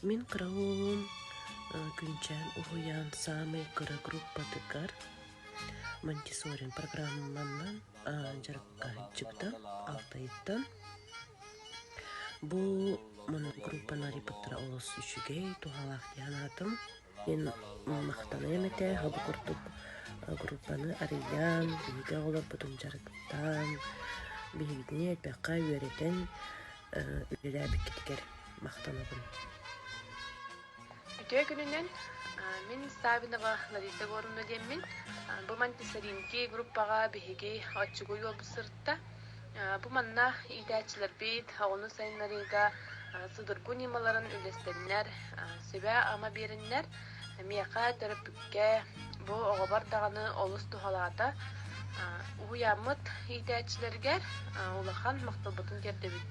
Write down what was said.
Мин кыра уолум күнчээн уһуйаан саамай кыра группатыгар Монтессори программанан дьарыккаһыйчыттан алтайыттан бу группа Нарий Пыттара олус үчүгэй туһалаах диэн аатым Мин махтаныам этэ бу курдук группаны арыйан, биһиги оҕолорбутун дьарыктаан, биһигини элбэххэ үөрэтэн үлэлээбиккитигэр махтанабын. Үтүө күнүнэн мин Савинова Лариса Горуна диэммин. Бу Монтессаринки группаҕа биһиги оччугуй уолбут сырытта. Бу манна иитээччилэрбит оҕону сайыннарыыга судургу ньымаларын үллэстэннэр, сүбэ-ама биэрэннэр, миэхэ, төрөппүккэ, бу оҕобор даҕаны олус туһалаата. Уһуйааммыт иитээччилэригэр улахан махталбытын тиэрдэбит.